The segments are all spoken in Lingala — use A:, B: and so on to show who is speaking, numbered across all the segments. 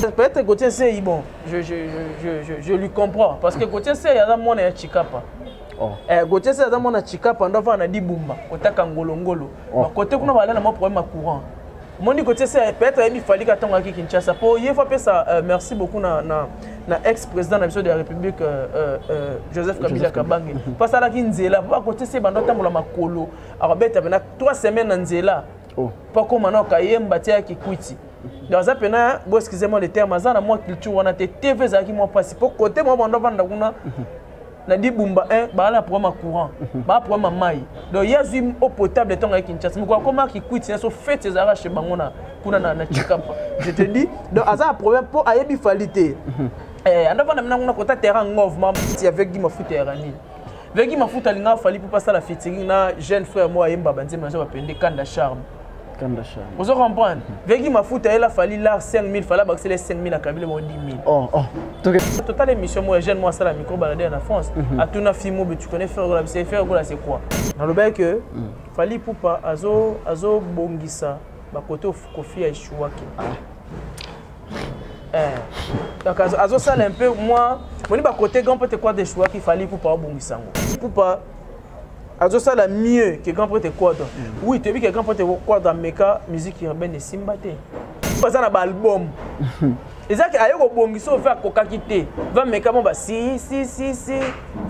A: peut-être Gauthier Nseyi bon je, je, je, je, je lui comprends parce que Gauthier Nseyi aza mwana ya Chikapa Oh. Eh, Gauthier Nseyi aza mwana ya Chikapa ndo avanda na Dibumba kotaka ngolongolo oh. bakote kuna bala na mwa problème ya courant omoni Gauthier Nseyi peut-être ayebi fali katongaki Kinshasa mpo ye fo apesa euh, merci beaucoup na, na, na ex président na biso de la république euh, euh, euh joseph kabila kabange mpo asalaki nzela mpo bakote se banda otambola makolo akobeta pena 3 semaine na nzela mpo oh. akoma na okayemba tia ya kikwiti donc aza mpena bo excuse moi le terme aza na mwa culture wana te tv ezalaki mwa mpasi mpo kote mwa bando avanda kuna mhm. na libumba 1 baa na programme ya courant mhm. baa programme ya mai donc ye azwi eau potable ntango ayaki kinshasa moko akoma kikwiti nyonso fete ezalaka chez bango na kuna na chikapa je te dis donc aza na problème mpo ayebi fali te mhm. eh, andavanda mina kuna kota terrain ngov mamti avec gi mafuta ya ranini Vegi mafuta alinga fali mpo asala featuring na jeune frère moko ayemba banzembo naza bapende kanda charme kanda charme ozo comprendre vegi mafuta yela fali lar 5000 fala bakisela 5000 akabile bango 10000 oh, oh. totala émission moko ya jeune moko asala micro balade na france mhm. atuna fille mobe tu connais frère gola bise frère gola c'est quoi nalobaki que mm. fali pupa azobongisa bakote kofi ya eshuwaki ah. eh. donc azosala un peu mwa moni bakote grand prêtre quadre echouaki fali pupa abongisa yango pupa azosala mieux que grand prêtre quadre mm. oui toyebi ke grand prêtre quadre ameka musique urbaine esimba te baza na baalbum eza ke aye kobongisa oyo fe akokaki te vameka mo basi si si si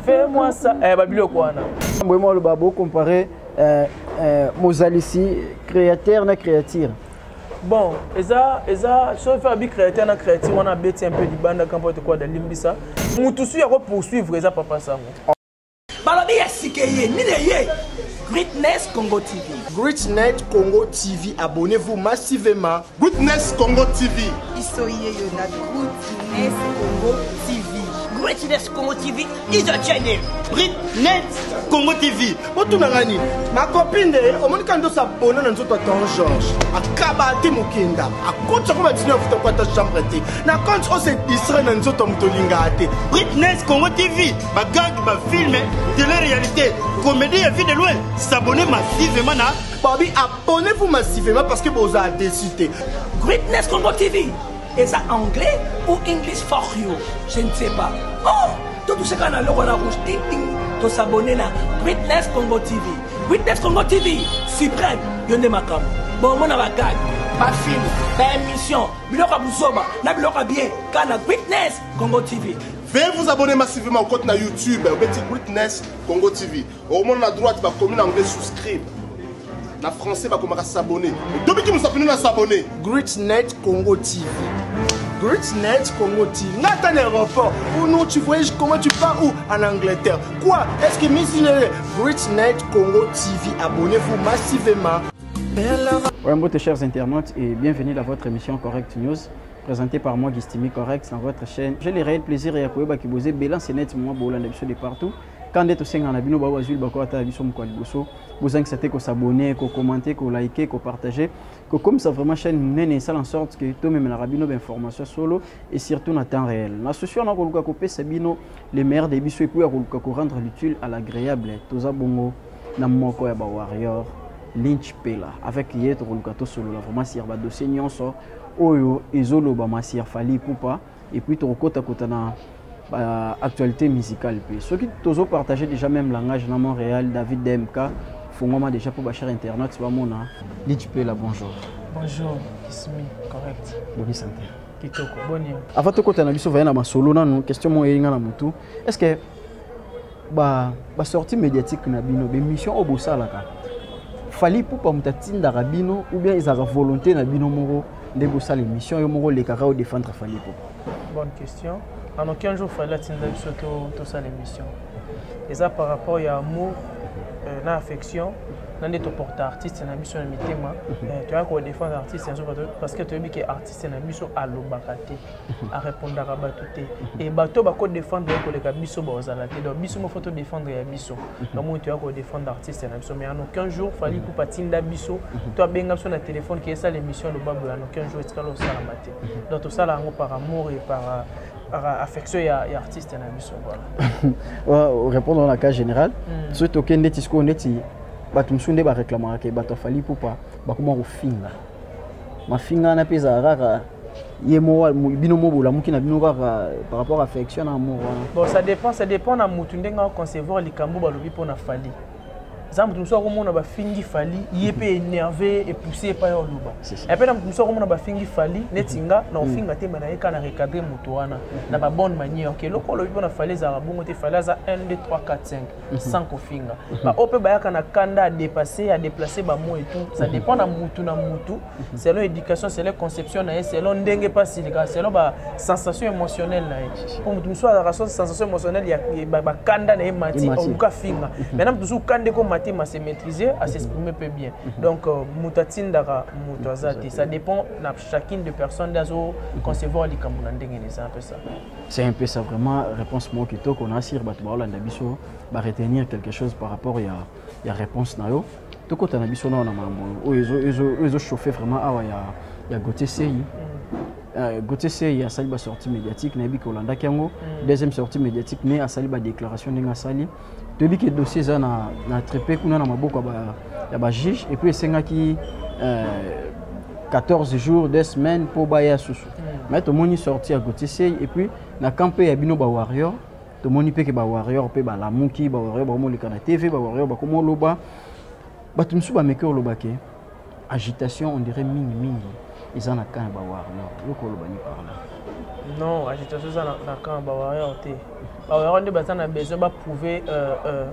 A: fe mwa sa eh, babiloko wana boyema oloba bokompare
B: eh, eh, mozalisi créateur na créature bon
A: eza eza soki fe abi créateur na créature wana abeti un peu libanda kampote kuada limbisa motu suyi ako poursuivre eza papa sango balobi
C: ya sika eye nini eye Greatness Congo TV. Greatness Congo
D: TV, abonnez-vous massivement. Greatness Congo
E: TV. Isoye yo na
C: Greatness Congo TV.
D: Greatness Congo TV is a channel. Greatness Congo TV. Botuna ngani? Ma copine nde omoni ka ndosa bona na nzoto Don George. Akaba te mokenda. Akotsa ko batina futa kwa ta chambre te. Na compte o se distraire na nzoto moto linga te. Greatness Congo
E: TV. Ba gag ba film de la réalité. Comédie ya vie de loin. S'abonner massivement na Babi abonnez-vous
D: massivement parce que boza déçu te. Greatness Congo
C: TV. eza anglais ou english for you je ne sais pas oh totuseka na loko na rouge ting ting tosabone na witness congo tv witness congo tv supreme yo nde makambo bomona bagage bafilm baémission biloko ya buzoba na biloko ya bien ka na witness congo tv Veuillez vous abonner
E: massivement au compte na YouTube Betty Greatness Congo TV. okomona na droite bakomi na anglais souscribe na français bakomaka s'abonner tobiki mosapino na s'abonner greatnet congo
D: tv Greatnet Congo TV. Nathan aéroport. Ou non, tu voyages comment tu pars où En Angleterre. Quoi Est-ce que Miss Greatnet Congo TV, abonnez-vous massivement.
B: Ouais, mbote chers internautes et bienvenue dans votre émission Correct News présentée par moi Gistimi Correct dans votre chaîne. J'ai le réel plaisir et à Koyoba Kibose, Bélan Sénète, moi Bolan de partout. Quand nde tosengana bino baoyo bazwi libako ata ya biso mokolo ya liboso bozangisa te kosabone kokomante kolike kopartage kokomisa vraiment chaîne monene esala en sorte que tomemelaka bino bainformation solo et surtout na temps réel na souci wana koluka kopesa bino le meilleur de biso epuis ya koluka korendre l'utile à l'agréable toza bongo na moko ya bawarrior lynch pela avec ye tokoluka tosolola vraiment sur badossier nyonso oyo ezolobama sur fali pupa et puis tokokota kota na ba actualité musicale mpe soki tozo partager déjà même langage na Montréal David DMK fongwama déjà mpo bachar internet bamona liti mpe la bonjour bonjour
A: kismi correct bobi sante
B: kitoko boni
A: avant tokota na biso
B: vaya na masolo nanu question moko eyinga na motu est ce que ba ba sortie médiatique na bino bemission oyo bosalaka fali pupa moto atindaka bino ou bien ezalaka volonté na bino moko nde bosala émission yo moko olekaka odefendre fali pupa bonne question
A: en aucun jour fali atinda biso tosala émission eza par rapport ya amour euh, na affection na nde toporta artiste na biso na mitema mhm. euh, toyaka kodefendre artiste yanso parce que toyebi ke artiste na biso alobaka te arepondaka bato te e bato bako défendre ye koleka biso baozala te donc biso moko to défendre ya biso bamoi toya kodéfendre artiste na biso mais en aucun jour fali mhm. kupa atinda biso mhm. to abenga biso na téléphone ke esala émission aloba boye en aucun jour etikala osalama te mhm. donc tosala yango par amour et par euh, euh, affection ya, ya artiste na biso voilà répondre na
B: cas général mm. soki tokende ti sikoyo neti bato mosusu nde baréclamaka ke bato afali pupa bakoma kofinga mafinga wana mpe ezala kaka ye moko bino moko bolamuki na bino kaka par rapport à affection na amour wana bon ça dépend ça
A: dépend na motu ndenge aconcevoir likambo balobi mpo na fali eza moto mosusu akomona bafingi fali ye mpe énerve epousse epai ya oloba epe na moto mosusu akomona bafingi fali neti nga na ofinga te me na ye ka na recadre moto wana na babonne manière ke eloko olobi mpo na fali ezalaka bongo te fali aza 1 2 3 4 5 Mhm. sans kofinga mhm. baoyo mpe bayaka na kanda à dépasser à déplacer bamo et tout ça mhm. dépend na mutu na mutu selon éducation selon conception na ye selon ndenge mpe asilika selon basensation émotionnelle na ye mpo motu mosusu azalaka so sensation émotionnelle ya bakanda na ye mati oluka afinga maintenant motu mosusu kanda eko mati ma se maîtriser à s'exprimer mpe bien donc euh, motu atindaka motu aza te ça dépend na chacune de personne nde azoconcevoir likambo na ndenge na eza mpe ça C'est un peu ça
B: vraiment réponse moko kitoko na asir bato baolanda biso ba retenir quelque chose par rapport ya, ya réponse na yo tokota na biso nao na makambo oyo ezochauffe vraiment awa ya, ya gote sei Euh, Gauthier Sey asali ba sortie médiatique nayebi kolandaki yango mm. deuxième sortie médiatique mais asali ba déclaration ndenge asali toyebi ke dossier eza na, na trepe kuna na maboko ya bajuge epuis esengaki euh, 14 jours de semaine mpo baya susu mm. mai tomoni sorti ya gotisei epuis na camp mpe ya bino bawarrior tomoni mpe ke bawarrior mpe balamuki bawarrior bakomoleka na tv bawarrior bakomoloba bato mosusu bameki oloba ke agitation on dirait mingi mingi eza na camp ya bawarrior yoko oloba ni par là
A: non agitation eza na camp ya bawarrior te bawarrior nde baza na besoin baprouve euh, euh,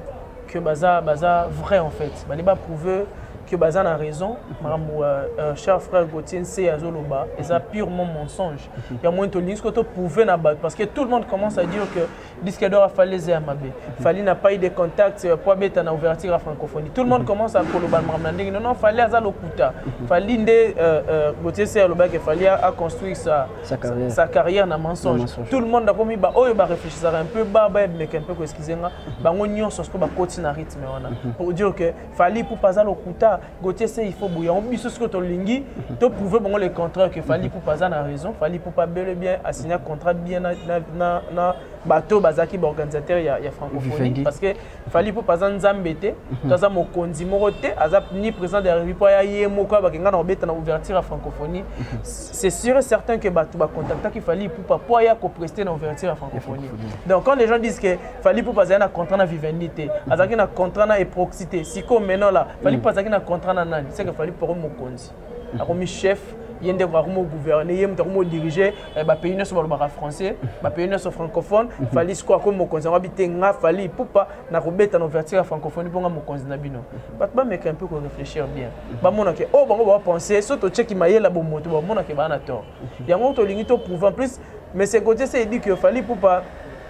A: que baza baza vrai en fait bande baprouve que baza na raison makambo euh, euh, cher frère gautier nse azoloba eza purement mensonge yango tolingi siko toprouve na bato parce que tout le monde commence à dire que Disque d'or afali eza ya mabe. Fali n'a pas eu de contact euh, pour beta na ouverture à francophonie. Tout le monde commence à koloba makambo na ndenge. Non non, fali aza lokuta. Fali nde euh, euh, Gauthier Serre loba que fali a construit sa sa carrière, sa carrière na mensonge. mensonge. Tout le monde akomi ba oyo ba réfléchissaka un peu ba ba mais un peu ko excuser nga. Bango nyonso siko ba koti na rythme wana. Mhm. Pour dire que fali pour pas lokuta Gauthier c'est il faut bouillon biso ce que to lingi to prouver bango le contraire que Fally Ipupa aza na raison Fally Ipupa bel et bien a signé contrat bien na na na bato bazalaki baorganisateur ya, ya francophonie parce que Fally Ipupa aza nzambe te mhm. to aza mokonzi moko te aza ni président de la République ya ye moko abaki nga na obeta na ouverture ya francophonie mhm. c'est sûr et certain que bato bacontactaki Fally Ipupa mpo aya kopreste na ouverture ya francophonie donc quand les gens disent que Fally Ipupa azali na contrat na Vivendi te azalaki na contrat na Eproxy te sikoyo meno la Fally Ipupa azalaki na contrat na nani seke Fally Ipupa akomi mokonzi akomi chef ye nde akomi ogouverne ye moto akomi odirige eh, bapays nyonso balobaka français bapays nyonso francophone mhm. fali sikoyo akomi mokonzi yango abi te nga fali ipupa nakobeta na ouverture ya francophonie mpo nga mokonzi na bino mhm. bato bameka mpe koréfléchir bien mhm. bamona ke oyo oh, bango bapense so tocheki mayela bomoto bamona ke baa na tort yango tolingi toprouve en plus mais segotie se edi ke fali ipupa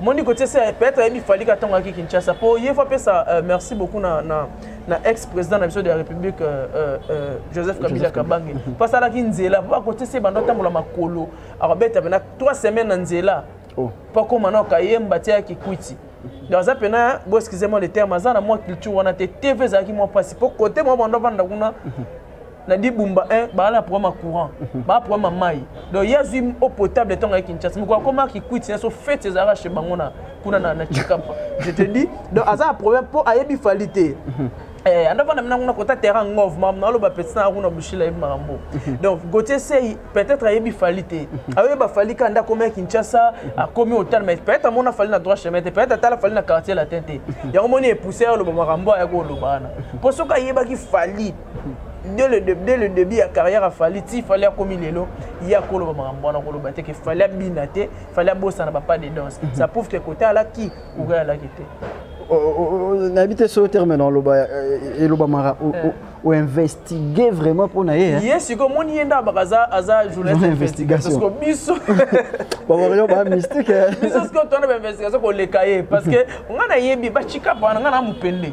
A: omoni kotie se peut-être ayebi fali ka ntango ayaki kinshasa mpo ye fo apesa euh, merci beaucoup na, na, na ex président na biso de la république euh, euh, euh joseph kabila kabange mpo asalaki nzela mpo akotie se banda otambola makolo akobeta pena trois semaines na nzela mpo oh. akoma na okayemba tia ya kikwiti donc aza mpena bo excuse moi le terme aza na mwa culture wana te tv ezalaki mwa mpasi mpo kote mwa banda avanda kuna na libumba eh, baa na problème ya courant mhm. baa problème ya mai donc ye azwi eau potable ntango ya kinshasa mokolo akoma kikwiti nyonso fete ezalaka chez bango na kuna na chikapa je te dis donc aza na problème mpo ayebi fali te mhm. eh, anda vanda mina kuna kota terrain ngov mam naloba petit na kuna bushila yebi makambo mhm. donc gautier sei peut-être ayebi fali te ayoyeba fali ka nda akomi ya kinshasa akomi hotel mais peut-être amona fali na droit chemin te peut-être atala fali na quartier latin te yango moni epousse ya oloba makambo ayaki oloba wana mpo soki ayebaki fali dès le, dès le début ya carrière ya fali ti fali akomi lelo ye akoloba makambo wana koloba te ke fali abina te fali abosana bapa de danse mhm. ça prouve ke kote alaki koga alaki te
B: nayebi te soki
A: terme
B: na oloba
A: eh,
B: elobamaka eh. oinvestigue vraiment mpo na ye eh? ye sikoyo omoni ye nde
A: abaka aza journalistinvestigationparceque biso bakoyo
B: ba mystique biso sikoyo tona
A: bainvestigation koleka ye parce que ngai nayebi bacikapa wana ngai na mopende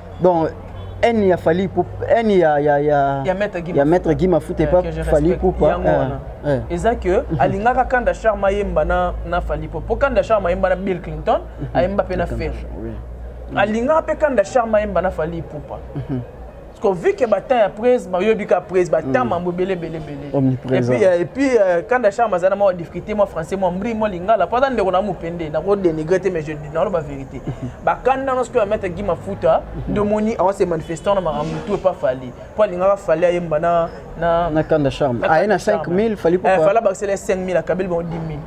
B: donc haine ya fali pour haine ya ya ya ya maître Guy ya maître Guy Mafuta pas fali pour pas et ça
A: que alingaka kanda charma yemba na na fali pour pour kanda charma yemba na Bill Clinton mhm. ayemba pe na Ferre mhm. alingaka pe kanda charma yemba na fali pour pas mhm. parce que vu que batin ya prise bayobi ka prise batin mambo bele bele bele et puis euh, et puis euh, kanda charma zana ma difficulté moi français moi mbri moi lingala pas dans le na mupende na ko dénigrer mais je naloba verité bakanda nyonso mpe bameta gi mafuta nde omoni awa se manifestant na makambo tu epa fali mpo alingaka fali ayemba na na na kanda charme aye
B: na 5000 fali mpo fala bakisela 5000
A: akabeli bango 10000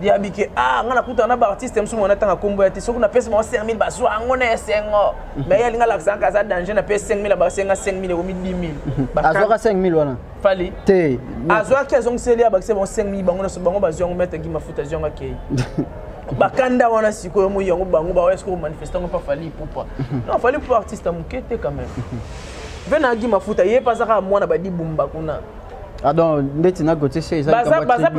A: yabi ke ah nga nakutana na baartiste mosusu mwana ntanga nkombo ya te soki napesi bango 5000 bazwa yango na esengo me ye alinga alakisaka aza danger na pesi 5000 abasenga 5000 ekomi 10000 azwaka 5000 wana
B: fali te azwaki azongiseli
A: abakisa bango 5000 bango nyonso bango bazwi yango mete gi mafuta azwi yango akei bakanda wana sikoyo moi yango bango baoya sikoyo manifeste yango mpa fali ipupa non fali ipupa artiste ya moke te quand même mpe nagi mafuta ye mpe azaka mwana badibumba kuna adon ah,
B: ndeti na gotie se ezabaza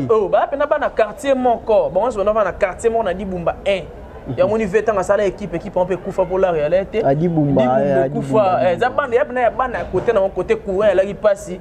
B: mpena
A: bana quartier moko bango nyonso bana bana quartier moko na dibumba 1 yango ni ve ntango asala ekipe ekipe yango mpe ekufa mpo lare yala te adibumba
B: ekufa eza banda
A: ya bana ya bana ya kote na yango kote courant yalaki mpasi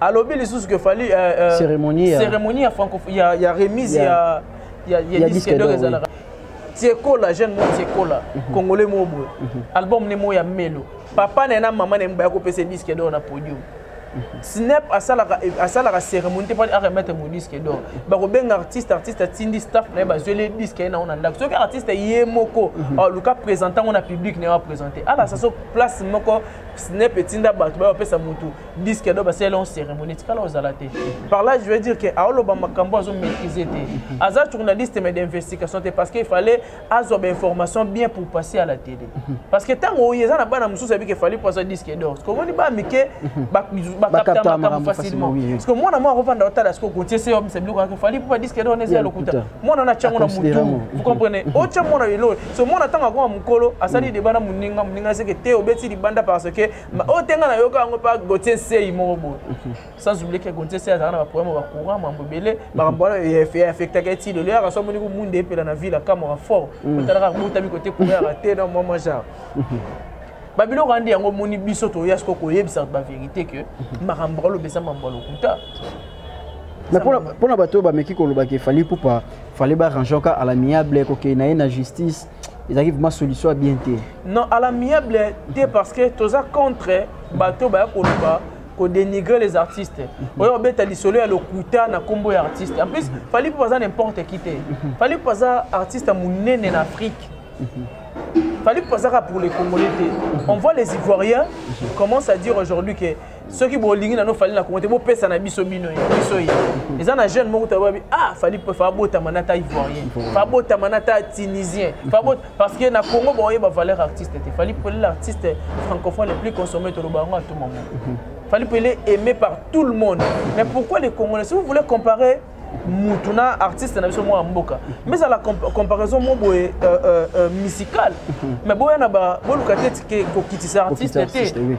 B: alobi lisusu que fali
A: euh, euh, cérémonie cérémonie ya franco ya ya remise ya ya ya disque d'or ezalaka tiekola jeune mo tiekola mhm. congolais mo boye mhm. album ne mo ya melo papa na na mama na mbaya ko pese disque d'or na podium snap asalaka asalaka cérémonie te mpona aremettre mo disque donc bakobenga artiste artiste atindi staff na ye bazweli disque ye nango na ndako soki artiste ye moko aluka mhm. ah, présente yango na public na ye apresente alasa so place moko snep etinda bato baye bapesa motu diske do basala elon cérémonie etikala ozala te par là je veux dire ke aoloba makambo azo maîtrise te aza journaliste mais d'investigation te parce que il fallait azwa bainformation bien pour passer à la télé parce que ntango oyo eza na bana mosusu ayebi ke fali mpo azwa diske dor ce komoni ba mike bakapta makambo facilement parce que mwana mwa akovanda otala siko kotie se yobisa biloko yake fali mpo ba diske dor neza ya lokuta mwana wana atya yango na motu vous comprenez mhm. otya mwana lelo so mwana ntango akoma mokolo asali mhm. deba na moninga moninga aseke te obeti libanda parce que oyo te ngai nayoka yango mpa gotie nsei moko boye mhm. sans oublie ke gotie nsei azalaka na baproblème ya bacourant mambo ebele makambo wana eaffectaka eti lelo yaka so amoni komunda epela na ville akamwaka fort otalaka botami kote courant yaka te na mwa mwa genre babiloko andi yango omoni biso toya siko koyebisa bato baverité ke mhm. makambo bakoloba eza mambo ya lokuta
B: mpo na bato oyo bameki kolobaka efali ipupa fale barange oka à l'amiable kokei na ye na justice ezalaki vraiment solution ya bien te non à l'amiable
A: te parce que toza contre bato baya koloba kodénigrer les artistes mhm. oyo obeta lisolo ya lokuta na nkombo ya artiste en plus fali mpo aza n'importe qui te mhm. fali mpo aza artiste ya monene na afrique Fallait pas ça pour les Congolais. On voit les Ivoiriens commencent à dire aujourd'hui que ceux qui bolingi na no fallait la compter bo pesa na biso bino biso yi. Les ana jeunes moko tababi ah fallait pas faire bota manata ivoirien. Pas bota manata tunisien. Pas bota parce que na Congo boye ba valeur artiste te. Fallait pour l'artiste francophone le plus consommé tout le bango à tout moment. Fallait pour aimer par tout le monde. Mais pourquoi les Congolais si vous voulez comparer mutu na artiste na biso mwana mboka mais ezala comparaison mo boye euh, euh, euh, musicale mhm. mais boya na boluka te tike kokitisa artiste te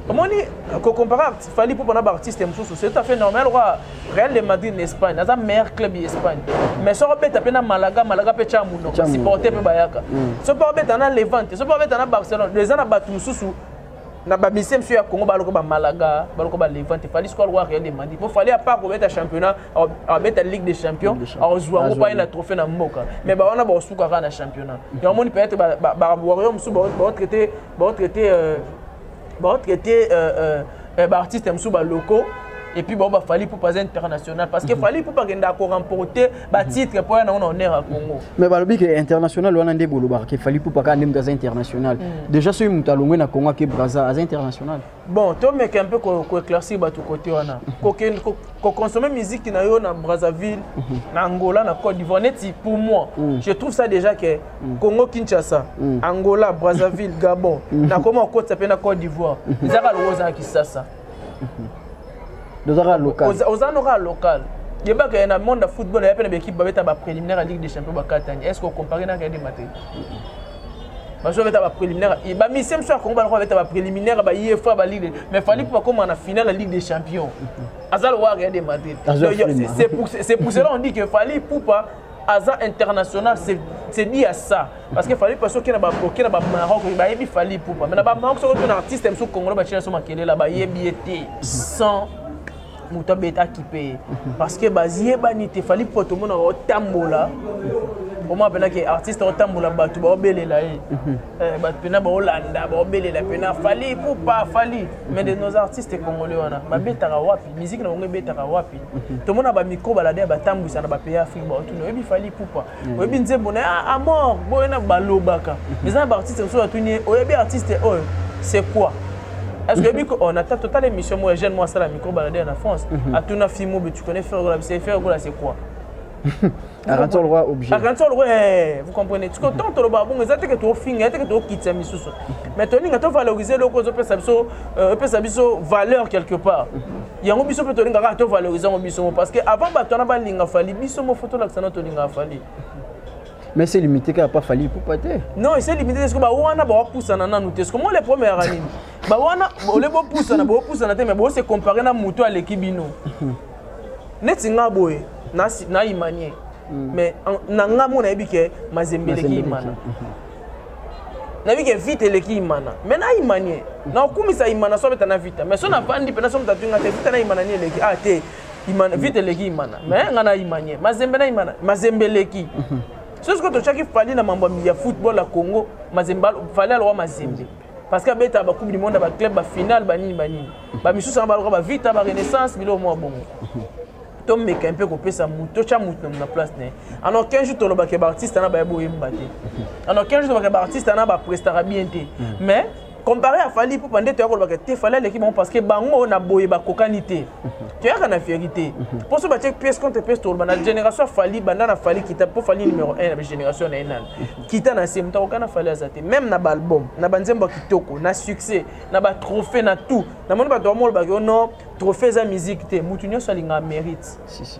A: omoni kocompare fali mpo mpona baartiste mosusu c'est tout à fait normal okoa real de madrid na espagne aza meilleur club ya espagne mais soki obeta mpe na malaga malaga mpe tya monoko supporte mpe bayaka mm. soki mpe obeta na levante soki mpe obeta na barcelone eza na bato mosusu na bamisie mosusu ya congo baloko bamalaga baloko balevante fali sikoyo aloko areal de mandi po fali apart kobeta championnat abeta ligue des champions azwa yango paye na trophée na mboka mais bawana bakosuka kaka na championnat mm-hmm. yango moni peut-être bawario mosusu baotraite baotraite euh, baotraite euh, euh, eh, baartiste mosusu baloko et puis bon bah Fally Ipupa aza international parce que mm -hmm. Fally Ipupa akenda ko remporter ba titre po ya nango na honneur ya Congo mais balobi ke
B: international wana nde bolobaka ke fali pupa kaka nde moto aza international mm. déjà soki moto alongwe na Congo ake Brazza aza international bon to meke un
A: peu ko, ko éclaircir bato côté wana ko, ko, ko consommer musique na yo na Brazzaville mhm. na Angola na Côte d'Ivoire neti pour moi mm. je trouve ça déjà que mm. Congo Kinshasa mm. Angola Brazzaville Gabon mm. na koma okotisa pe na Côte d'Ivoire ezaka lokola ozala Kisasa
B: ozaka local oza noka local
A: yebaka ye na monde ya football ya mpe na baekipe babeta bapréliminaire ya ligue des champion bakatani est ce que ocompare naka ye demate bazo beta ba préliminaire et ba mise mso ya Congo ba beta ba préliminaire ba IFA ba ligue mais fallait pas comme en finale la Ligue des Champions azal wa rien de Madrid c'est pour c'est pour cela on dit que fallait poupa aza international c'est dit à ça parce que fallait pas soki na ba boke na ba Maroc ba yebi fallait poupa mais na ba Maroc soki tuna artiste mso congolais ba chela so makele la ba yebi été sans moto abeta kipe ye parce que baziyebani te fallait pas tout le monde otambola omo apelaki artiste otambola bato baobelela ye mhm. eh, bato mpena baolanda baobelela mpena fali poupa fali mais de nos artistes congolais wana babetaka wapi miziki na bango ebetaka wapi tomona ba micro balade ya batambwisa na bapays afrique baotuna oyebi fali pupa mm. oyebi nzembo na ah, amor boye na balobaka mm-hmm. eza na baartiste mosusu atuni ye oyebi artiste oyo c'est quoi est-ce que oyebi on attend total émission moi jeune moi asala micro balade na france mm-hmm. atuna fimo be tu connais frère gola bise frère gola c'est quoi
B: akanisa lokola objet akanisa lokola eh,
A: vous comprenez tiko ntango tolobaka bongo eza teke tofinga ya teke tokitisa misusu mais tolinga tovalorize eloko ezopesa biso euh, epesa biso valeur quelque part yango biso mpe tolinga kaka tovalorize yango biso mo parce que avant bato wana balinga fali biso mo fo tolakisa na tolingaka fali mais
B: c'est limité kaka pa fali ipupa te non ese limité te siko
A: bawana bawapusana nanu te siko mo le premier yango nini bawana ole bopusana bopusana te mais bose compare na moto aleki bino neti nga boye nayimanie mm. mais na nga mo nayebi ke mazembe eleki imana mhm. nayebi ke vite eleki imana mais nayimanie mm. naokumisa imana so abeta na vita mais so navandi mpe naso motatu nga te vita na imana ni eleki a ah, te mm. vite eleki imana mais nga nayimanie mazembe na imana mazembe eleki mhm. soki sikoyo totyaki fali na mambo ya football ya congo mazembe fali alowa mazembe parce que abetaka bacoupe du monde ya baclub bafinale banini banini bamisusu yango baloka bavita barenaissance biloko mwa bongo tomeka mpe kopesa moto totya moto na place na ye en aucun jour tolobaka baartiste na baye boyemba te en aucun jour tolobaka baartiste na baprestaka bien te mais comparé à fali mpo pande toya kolobaka te fali aleki bango parce que bango na boye bakokani te toyaka na vérité mpo so batie pièce contre pièce toloba na génération ya fali banda na fali kita mpo fali numéro 1 na bagénération na ye nani kita na se moto akoka na fali aza te même na baalbum na banzembo ya kitoko na succès na batrophée na tout namoni bato bamolobaki o oh non trophée eza musique te moto nyonso alingaka mérite si, si.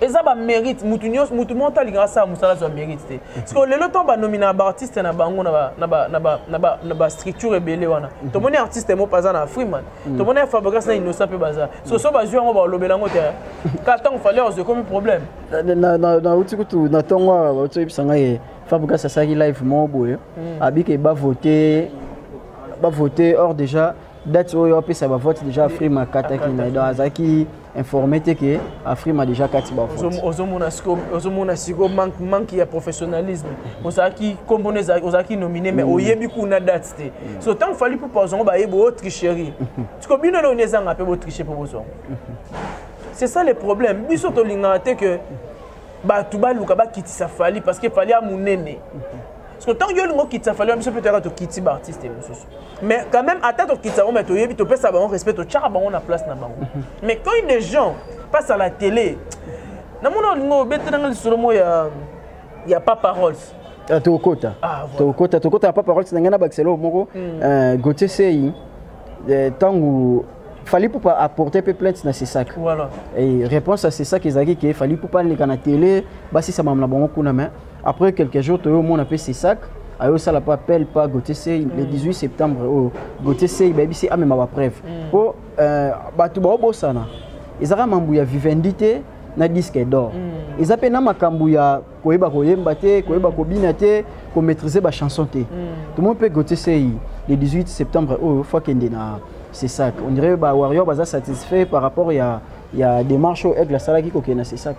A: eza ba mérite mutu nyonso mutu moko alingaka asala mosala azwa mérite te sikoyo lelo ntango banominaka baartiste na bango na bastructure ebele wana mhm. tomoni artiste moko aza na freeman mhm. tomoni ya fabricas na innocent mpe baza so so bazwi yango balobela yango te ka ntango fale ozwi ekomi problème nauti
B: kutu na ntongo awa bauti oyebisa ngai ye fabricas asalaki live moko boye mhm. abike bavote bavote or déjà date oyo apesa bavote déjà freeman akataki na ye donc azalaki informé te que Afrima déjà kati ba vote ozomona siko
A: ozomona siko manque manque ya professionnalisme ozaki kombo ne ozaki nominé mais mm. oyebi kuna date te mm. so tant fallait pour poison ba yebo oh, tricherie tiko bino no neza ngape bo tricher pour bozo c'est ça le problème biso to linga te que ba tubaluka ba kitisa fali parce que fali a munene parce que ntango yo olingi okitisa fali ya biso mpe toyaka tokiti baartiste mosusu mais quand même ata tokitisa yango mai toyebi topesa bango respect totyaka bango na place na bango mhm. mais quand une gens passe à la télé namona olingi obetelanga lisolo moko ya ya papa rolls ah, tokokota
B: ah, tokokota tokokota ya papa rolls na ngai na bakiselo moko hmm. euh, gautier sei ntango euh, fali pupa apporte mpe plainte na sesak
A: réponse ya
B: sesak ezalaki ke fali pupa aleka na tele basisa mamla bango kuna mais Après quelques jours, toyo mona pe Sesak ayo sala pa appel pa Gauthier Sey le 18 mm. septembre oyo oh, Gauthier Sey bayebisi amema ba preuve mm. po euh, bato baobosana ezaka mambu ya Vivendi te na disque d'or mm. eza pe na makambu ya koyeba koyemba te koyeba kobina te komaîtriser ba chanson te tomoni pe Gauthier Sey le 18 septembre oyo oh, fo akende na Sesak on dirait ba warrior baza satisfait par rapport ya ya démarche oyo aigle asalaki kokende na Sesak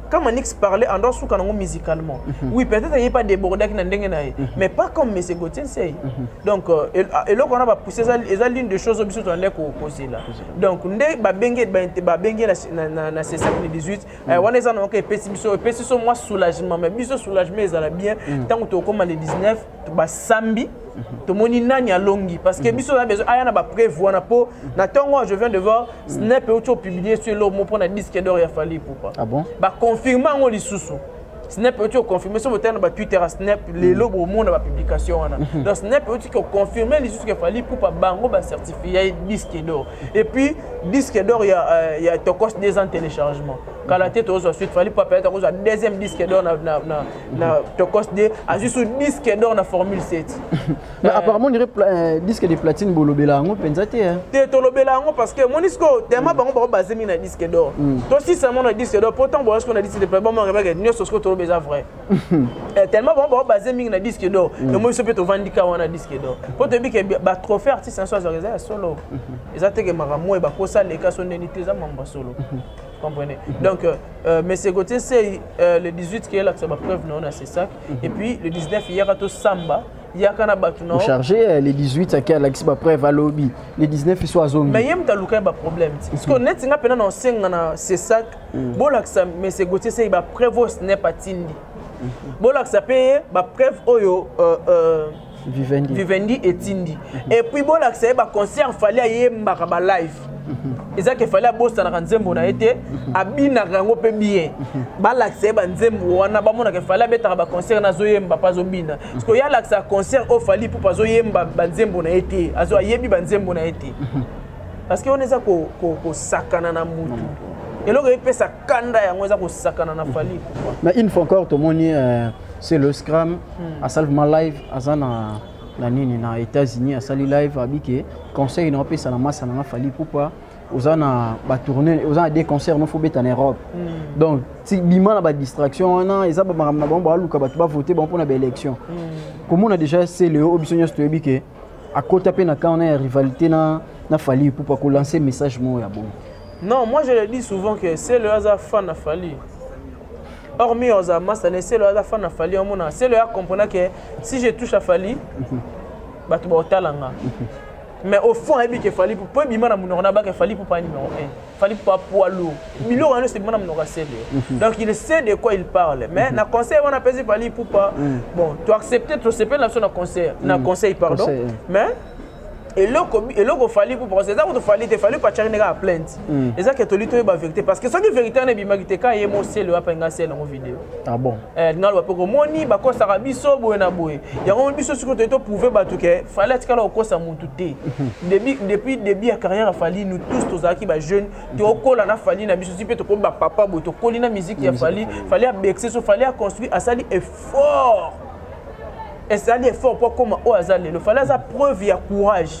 A: quand Manix parlait en doit souka nango musicalement mm -hmm. oui peut-être il pas débordé qui na ndenge na ye mm -hmm. mais pas comme monsieur Gauthier Nsei mm -hmm. donc euh, et là on a pas poussé ça et ça l'une des choses biso tondé ko poser là donc nde ba bengue ba bengue na na na c'est ça le 18 on est en OK pesi biso pesi so moi soulagement mais biso soulagement ezala bien tant que tu au comme le 19 basambi tomoni nani alongi parce que mhm. biso na besoin aya na ba preuve wana po mhm. na tongo je viens de voir mhm. snap euti opublie sur elo mo mpona disque d'or ya fali poupa ah bon? baconfirme yango lisusu snap euti oconfirme so botala na batwitter ya snap lelo bomona bapublication wana donc snap euti koconfirme lisusu ke fali poupa bango bacertifie ya disque d'or et puis disque d'or ya, euh, ya tokos des ans téléchargement kala te tozwa suite fali poupa peyata kozwa deuxième disque d'or na, na, na na tokos de azwi su disque d'or na formule 7 mais euh, apparemment
B: dirait euh, disque de platine bolobela yango mpenza te te tolobela yango
A: parce que moni sikoyo tema bango bango base mingi na disque d'or hmm. tosisa mo na disque d'or mpo ntango boyasiko na disque de platine bamoakebake nyonso sikoyo toloba eza vrai euh, tellement bango bango base mingi na disque d'or hmm. emoni so mpe tovandika wana disque d'or mpo toyebi ke batrophée artiste yanso azwaka eza ya solo hmm. eza teke makambo oyo bakosa leka so ndeni te eza mambo ya solo comprenez mm -hmm. donc euh, euh monsieur Gauthier Sey euh, le 18 qui est là que ça va preuve non c'est ça mm -hmm. et puis le 19 il y a samba yaka na bato na chargé eh, le 18
B: ake alakisi bapreuve alobi le 19 iso azongi mais ye moto aluka ye
A: baproblème ti parce que neti nga mpena na osenga na cesac mm. bolakisa monsieur gautier sei bapreuve oyo snep atindi mm-hmm. bolakisa mpe ye bapreuve oyo euh, euh, vivendi, vivendi etindi mhm. et puis bolakisa ye baconcert fali ayembaka balive mhm. eza ke fali abosanaka nzembo na ye te mhm. abinaka yango mpe bien balakisa ye banzembo wana bamonaka fali abetaka baconcert na azoyemba mpe azobina siko ye alakisa concert oyo fali mpo azoyemba banzembo na ye te azo ayebi banzembo na ye te parce que wana eza kosakana na motu eloko epesa kanda yango eza kosakana na fali mais une fois encore
B: tomoni euh, c'est le scram hmm. asali vraiment live aza na na nini na états-unis asali live abi ke conseil na opesa na masa na nga fali ipupa oza na batourne oza na deux concert no fo beta na europe mm. donc ti bima na badistraction wana eza bamakambo na bango baluka bato bavote bango mpo na baélection mm. komona déjà seleo oyo biso nyonso toyebi ke akota mpe na camp na ya rivalité na, na fali ipupa kolanse message moko ya bongo non moi je le
A: dis souvent que selo aza fan na fali hormis oza masta ne selo aza fan na fali omona selo ya comprena que si je touche a fali mhm. bato baotala nga mhm. mais au fond ayebi ke fali mpo ebima na monoko na baka fali mpo pa numéro 1 Fally Ipupa poids lourd biloko yango esebima na monoko ya sede mhm. donc il sait de quoi il parle mais mhm. na conseil wana apesi Fally Ipupa mhm. bon to accepte tosepeli na biso na conseil na conseil pardon mais eloko eloko fali mpo parce eza kutu fali te fali pachaki ndenge ya plainte eza ke toli toyeba vérité parce que soki vérité wana ebimaki te ka ye mosele wapa enga sele yango video ah bon Eh,
B: nalo bape komoni
A: bakosaka biso boye na boye yango biso soki toye toprouve bato ke fali atikala kokosa motu te depuis début ya carrière ya fali nous tous tozalaki bajeune tokola na fali na biso si mpe tokomi bapapa boye tokoli na miziki ya fali fali abekise so fali aconstruit asali effort ezali effort mpo akóma oyo aza lelo fali aza preuve ya courage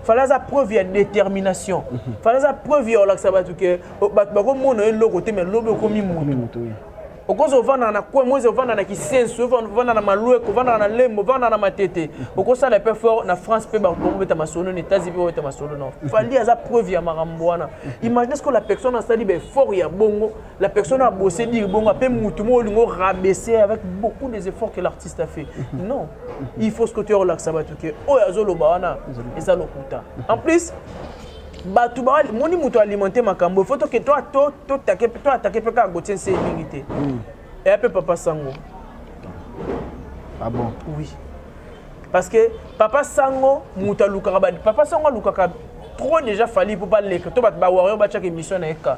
A: fali aza preuve ya détermination fali aza preuve ya olakisa bato ke bato bakomona eloko te mai lobi okomi motu okoza ovandaka na coin moise ovanda na kisensu ovanda na malueko ovandaka na lembo ovanda na matete okosala mpe fort na france mpe bakobeta masolo na états-unis mpe obeta masolo na fali aza preuve ya makambo wana imagine ce que la personne asali baeffort ya bongo la personne abose dire bongo mpe motu moko olingo rabaisse avec beaucoup des efforts que l'artiste a fait non il faut ce que tu orelakisa bato ke oyo azoloba wana eza lokuta en plus bato bamoni moto alimente makambo fo toke to atake mpe kaka gotie nse mingi te hmm. eya mpe papa sango
B: ah bon oui
A: parce que papa sango moto alukaka papa sango alukaka trop déjà fali mpo baleka to bato bawario batyaka émission na ye ka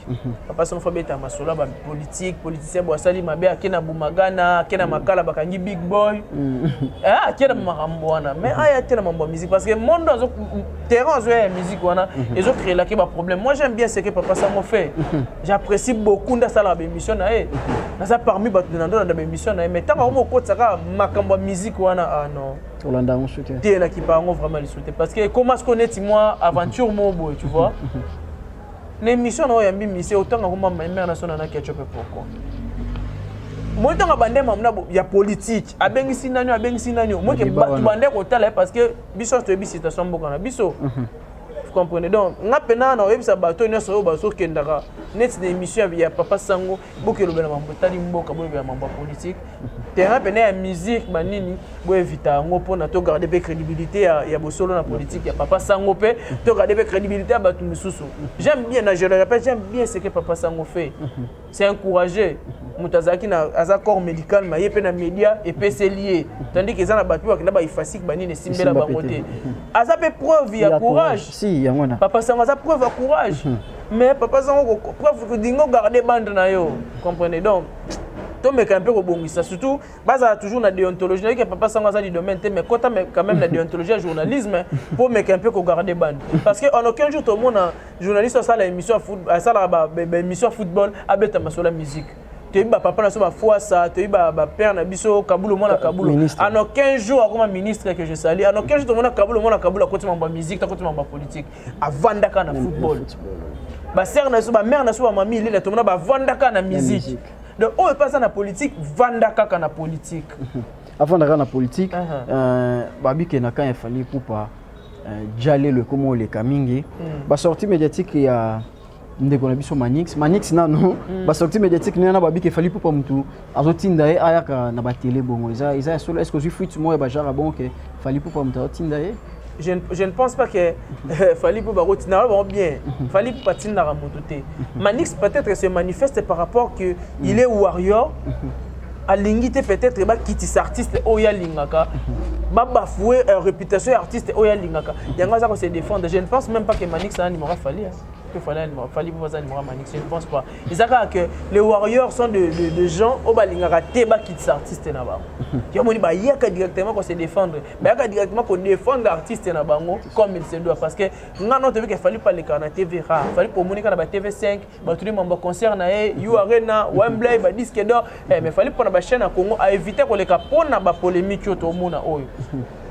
A: Mhm. papa somo fabeta masolo ya bapolitike politicien bo asali mabe ake na bumagana ake na mhm. makala bakangi big boy mhm. eh, ake na makambo wana mais aya te na mambo ya musique parce que monde azo terrain azoya ya musique wana ezocreelake baproblème moi j'aime bien ce que papa samo fait j'apprécie beaucoup nde asalaka baémission na ye naza parmi bato na ndolanda baémission na ye mais ntango yango mokotisa kaka makambo ya musique wana ah non olanda yango soki te
B: elaki bango vraiment
A: lisu te parce que ekoma siko neti mwa aventure moko boye tu vois na émission na oyo ya mbimise otanga ko mama mère na sona na ketchup pourquoi moi ntango bande mamna ya politique abengisi nani abengisi nani moi ke bato bande kotala ye parce que biso toyebi situation mboka na biso mhm. comprenez donc nga mpe na na oyebisa bato nyonso oyo bazokendaka neti na émission ya papa sango boke elobela mambo etali mboka bolobela mambo ya politike terrain pene ya musique banini boevita yango mpona togarde mpe crédibilité ya, ya bosolo na politique ya papa sango mpe togarde mpe crédibilité ya bato mosusu j'aime bien na je le répète j'aime bien ce que papa sango fait c'est un courageux moto azalaki na aza corps médical ma ye mpe na média epeseli ye tandis ke eza na bato mpe bakenda baefasike banini esimbela bango te aza mpe preuve ya courage si yango na papa
B: sango aza preuve ya
A: courage mhm. mais papa sango preuve kodingo garde bande na yo comprenez donc tomeka mpe kobongisa surtout bazala toujours na déontologie nayoki papa sango aza du domaine te mais kota quand même na déontologie ya journalisme mpo meka mpe kogarde bande parce que en aucun jour tomona journaliste asala émission asalaka baémission ya football abeta masolo ya musique toyebi bapapa na biso bafuasa toyebi bapère na biso kabulo mwana kabulo en aucun jour akoma ministre que je sali en aucun jour tomona kabulo mwana kabulo akoti mambo ya musique takoti mambo ya politique avandaka na football basere na biso bamare na biso bamami ilela tomona bavandaka na musique donc oyo epa aza na politique vanda kaka na politique avandaka
B: na politique uh-huh. euh, babike na kan efali kupa euh, jalelo ekoma oleka mingi mm. basortie médiatique ya ndeko na biso manix manix nano mm. basorti médiatique nena babiki efali mpo pa motu azotinda ye ayaka na batele bongo eza eza ya solo est ce que ozwi fuite moko ya bajara bongo ke fali mpo pa motu azotinda ye je, je ne pense
A: pas que euh, Fali Poupa Rotina va bien. Mhm. Fali Poupa Tina Ramotote. Mhm. Manix peut-être se manifeste par rapport que mhm. il est warrior. alingi te peut-être bakitisa artiste oyo alingaka babafoue euh, réputation ya artiste oyo alingaka yango aza kose défendre je ne pense même pas que manix aza nimora fali que Fally Animal, Fally Moza Animal Manix, je ne pense pas. Et ça que les Warriors sont de, de, de gens au balingaka teba qui des artistes na bango. Il y a moni ba yaka directement qu'on se défendre, ba yaka directement qu'on défendre artiste na bango comme il se doit parce que nga non tebe que Fally pas les kana TV rare, Fally pour moni kana ba TV5, ba tout les membres concert na e, U Arena, Wembley, ba disque d'or, eh, mais Fally pour na ba chaîne à Congo à éviter qu'on les capone na ba polémique au monde oyo.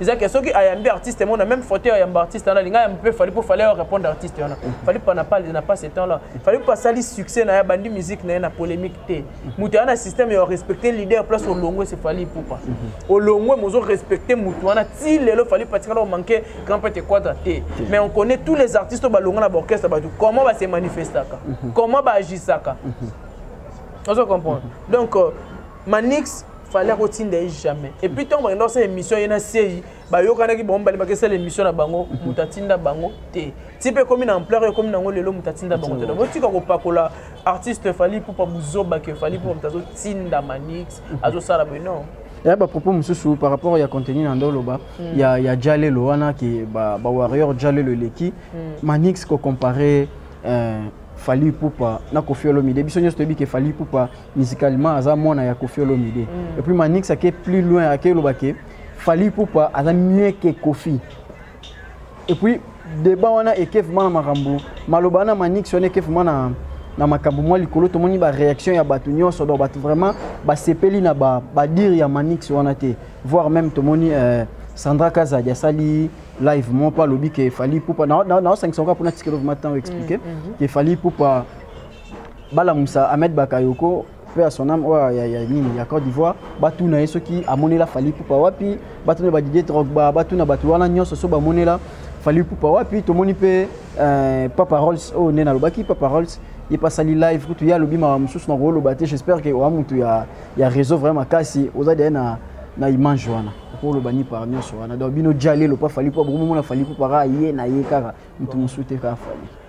A: eza ke soki ayambi artiste mona même faute ya yamba artiste wana linga yamba mpe fali mpo fali ayo répondre artiste wana fali mpo na pale na pas ce temps là fali mpo asali succès na ye abandi musique na ye na polémique te moto aya na système ya respecte leader place olongwe se fali ipupa olongwe mozo respecte moto wana ti lelo fali mpo atikala omanke grand prêtre quadra te mais on connaît tous les artistes oyo balongwa na baorchestre bato comment base manifestaka comment baagisaka ozo comprendre donc euh, manix fallait akotinda ye jamais et puis ntango bakenda kosala émission ye na sei bayokanaki bango mibale bakesala émission na bango moto atinda bango te ti mpe ekomi na ampleur ekomi nango lelo moto atinda bango te botika kopakola artiste fali pupa buzoba ke fali pupa moto azotinda manix azosala boye non ya eh, bapropos
B: mosusu par rapport ya contenu na nde oloba mm. ya, ya jalelo wana ke bawarrior ba, ba jalelo eleki mm. manix kocompare euh, fali pupa na kofi olomide biso nyonso toyebi ke fali pupa musicalement aza mwana ya Koffi Olomide mm. et puis Manix ake plus loin ake loba ke Fally Ipupa aza mieux que Koffi et puis débat wana ekef mana makambo maloba na Manix wana ekef mana na makambo mwa likolo tomoni ba réaction ya bato nyonso donc bato vraiment basepeli na ba badire ya Manix wana te voire même tomoni euh, Sandra Kazadi asali live mon pas lobi ke Fally Ipupa na na na 500 pour na tikelo vraiment temps expliquer mm, mm, mm. ke Fally Ipupa balamusa Ahmed Bakayoko mpe ya son âme oyo ya, ya nini ya Côte d'Ivoire batuna ye soki amonela Fally Ipupa wapi batuna ba Didier Drogba batuna bato wana nyonso so bamonela Fally Ipupa wapi tomoni mpe euh, Papa Rolls oyo oh, nde nalobaki Papa Rolls ye mpe asali live kutu ye alobi mawa mosusu na kooloba te j'espère ke oa motu ya, ya réseau vraiment makasi oza deya na, na image wana okoloba ni par nyonso wana donc bino jalelo mpa fali mpo bokomomona fali mpo para ye na ye kaka motu mosusu te kaka fali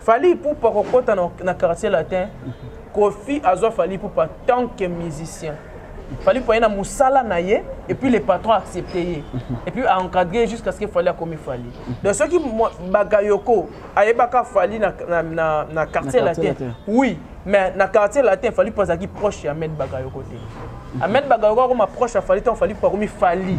A: Fally Ipupa kokota na, na quartier latin. Kofi azwa Fally Ipupa tant que musicien. Fally Ipupa na musala na ye et puis les patrons accepté ye. Et puis a encadré jusqu'à ce que Fally akomi Fally. Donc ce qui Bagayoko ayebaka Fally na na na, na quartier, na quartier latin. latin. Oui, mais na quartier latin Fally Ipupa azaki proche ya Ahmed Bagayoko te. Ahmed Bagayoko akoma proche ya Fally tant Fally Ipupa akomi Fally.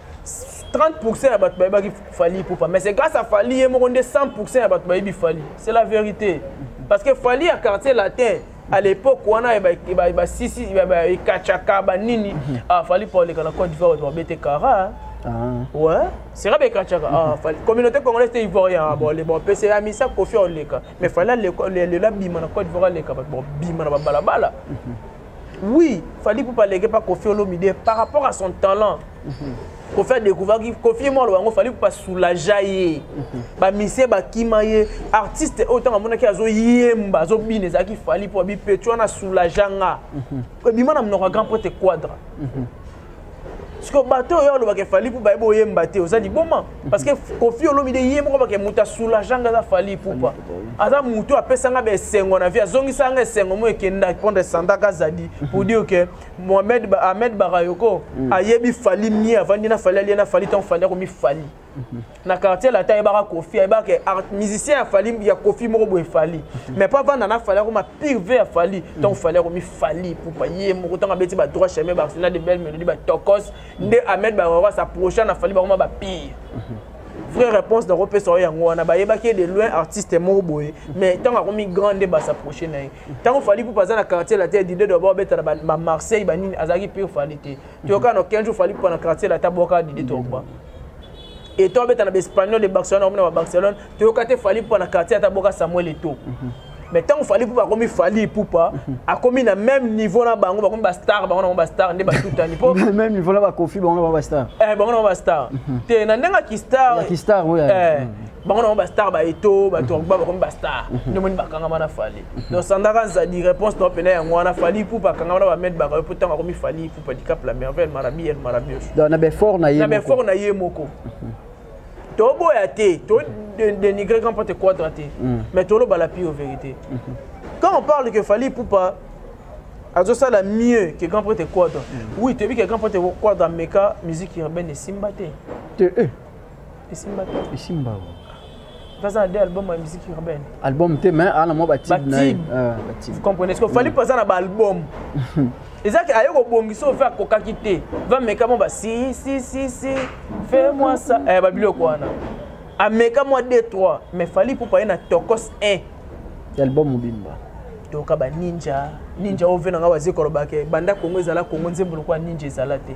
A: 30% ya bato bayebaki fali ipupa mais c'est grâce à fali ye moko nde 100% ya bato bayebi fali c'est la vérité parce que fali ya quartier latin à l'époque wana basisi ekacaka banini afali mpo aleka na cote d'ivoire bato babete kara Ah. Ouais, c'est Rabé Kachaka. Ah, fallait. Communauté congolaise était ivoirien. Ah, bon, les bons PC, la misa, Kofi, on les cas. Mais fallait le, le, le, la bima, na quoi, le cas, bon, bima, na balabala. Oui, Fally Poupa leke pas Kofi Olomide par rapport à son talent. Mm -hmm. Kofi a découvert que Kofi moi loango Fally Poupa soulager ye. Mm -hmm. Ba mise ba kima ye artiste autant à mona ki azo yemba azo bine za ki Fally Poupa bi petua na soulager nga. Mm -hmm. Bima na mnoka grand pote quadra. Mm -hmm. sikoyo bato oyo alobaka efali mpo bayebi oyemba te oza liboma parce que kofi olomide ye moko bake moto asoulage anga aza fali pupa aza motu apesanga baesengo na vie azongisa anga esengo mo ekendaki mpo ndesandaka azali pour dire que mohamed ahmed barayoko mm. ayebi fali mie avandi na fali alie na fali ntango fali akomi fali na quartier latin ayebaka kofi ayebaka ke musicien ya fali ya kofi moko boye fali mhm. mais mpo avanda na fali akoma pire ve ya fali mhm. ntango fali akomi fali pupa ye moko ntango abeti ba droit chemin ba arsenal de belle mélodie ba tokos mhm. nde ahmed bawawa s'approcha na fali bakoma ba pire vraie réponse na kopesa yo yango wana bayebaki ye de loin artiste moko boye mais ntango akomi grand nde basapproche na ye ntango fali pupa aza na quartier latin dide doba obeta na bamarseille banini azalaki pire fali te toyoka na 15 jours fali pana quartier la tabwaka didi togba et toi beta na espagnol de barcelone omona ba barcelone toyoka te fali pana quartier ata boka samuel eto mais ntango fali pupa akomi fali ipupa akomi na même niveau na bango bakomi bastar bango nango bastar nde batutani po même niveau na bakofi
B: bango na bango bastar eh bango na bango bastar
A: te na ndenge ya kistar ya kistar oyo
B: bango nango
A: bastar baeto batorgba bakomi bastar mhm. nde omoni bakangama na fali mhm. donc sandaka nzadi réponse nao mpena yango wana fali ipupa akangama na bamed bakayo mpo ntango akomi fali ipupa dicap la merveille marabi el marabios na
B: befort na ye moko
A: mhm. toboya te to dénigrer grand pote quadra te mm. mais toloba la pure vérité quand on parle que fali ipupa azosala mieux que grand prêtre quadra mm. oui toyebi que grand prêtre quadra ameka musique urbaine esimba te eh. esimba te esimba aza na deux album ya musique urbaine album te mais ana
B: mwa batube na ye ah, vous
A: comprenez ce que fali mpoza na baalbum eza ke aye kobongisa oyo fe akokaki te vameka mwa basi si si si fe mwa sa eh, babiloko wana ameka mwa d 3 mais fali pupa ye na tokos 1 album
B: mobimba toyoka baninja
A: ninja oyo ve na ngai waze kolobake banda kongo ezala kongo nzembo lokola ninja ezala te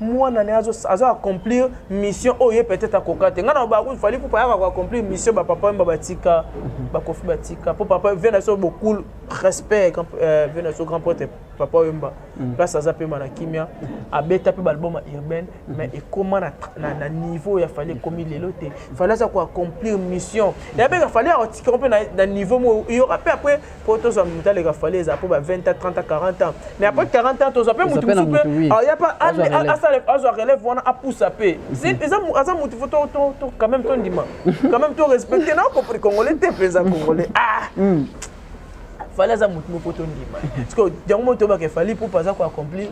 A: mwana ne azo azo accomplir mission oyo ye peut-être akoka te ngai na bakufi fali pupa yaka ko accomplir mission ba papa mba batika mhm. bakofi batika po papa vena so beaucoup respect euh, vena so grand pote papa oyemba mhm. place aza pema na kimia mhm. abeta mpe balbum ya urbaine mais ekoma na, na, na niveau ya fali ekomi lelo te fali aza ko accomplir mission yabeka fali akotikaka mpe na, na niveau moko yoka mpe après po tozwa moto aleka fali eza po ba 20 ans 30 ans 40 ans mais après 40 ans tozwa mpe moto mosusu mpe aya pa azwa relève wana apusa mpe aza moto fo quand même tondima quand même torespecte na okopri congolais te mpenza congolais ah fali aza motu moko tondima parceke yango moko toyebaka fali pupa aza koaccomplir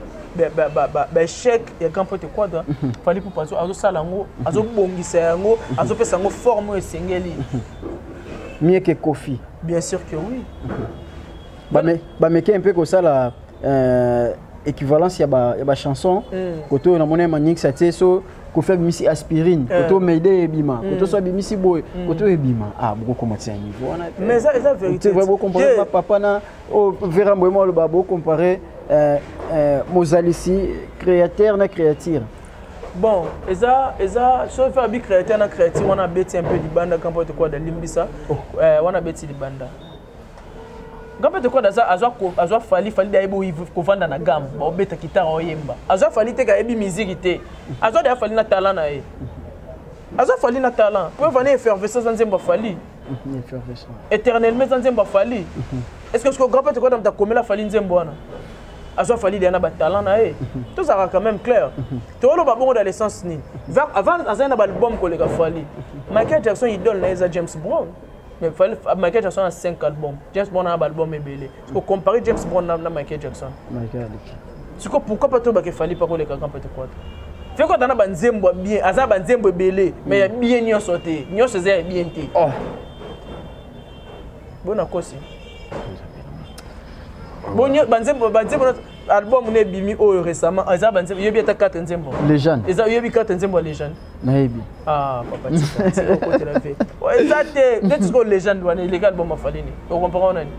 A: baechec ya grand pote quadra fali pupa azosala yango azobongisa yango azopesa yango forme oyo esengeli
B: mieke kofi Bien sûr
A: que
B: oui. bameke mpe kosala euh, équivalence ya bachanson mm. kote oyo namoni ya manix atie so kofi abimisi aspirine eh. kote oyo maide ebima mm. kote so abimisi boye mm. kote oyo ebima ah bokokomatisa ya niveau wana
A: te bokompare
B: bapapa na oyo oh, vera mboyema aloba bokompare euh, euh, mozalisi créateur na créature bon
A: eza eza soki fe abi créateur na créature wana abeti un peu libanda kampote kwada limbisa oh. eh, wana abeti libanda ngambe tokoda aza azwa azwa fali fali da ebo kovanda na gamme ba obeta kitara oyemba azwa fali te ka ebi miziki te azwa da fali na talent na ye azwa fali na talent po vana effervescence nzembo fali
B: Mhm, éternellement eza
A: nzembo afali mhm. est ce que siko grand pete kota moto akomela afali nzembo wana azwa fali deya na batalent na ye mhm. tozalaka quand même clair toloba bongo na l'essence nini avant azali na baalbum koleka fali michael jackson idole na ye eza james brown mais michael jackson na 5 album james brown na baalbum ebele o comparer James Brown na, na Michael Jackson Michael aleki siko pourquoi pas to bake fali pa ko leka kampe te kwata fe ko tana banzembo ya bien aza banzembo ebele mais ya mm. bien nyonso te nyonso eza ya bien te oh bona kosi bonyo banzembo banzembo album na ebimi oyo récemment eza banzembo yobi ata 4 nzembo legende eza yobi
B: 4 nzembo ya
A: legende nayebi ah, oh, eza te nde tisiko legende wana illegal boma fali nini okomprendre nani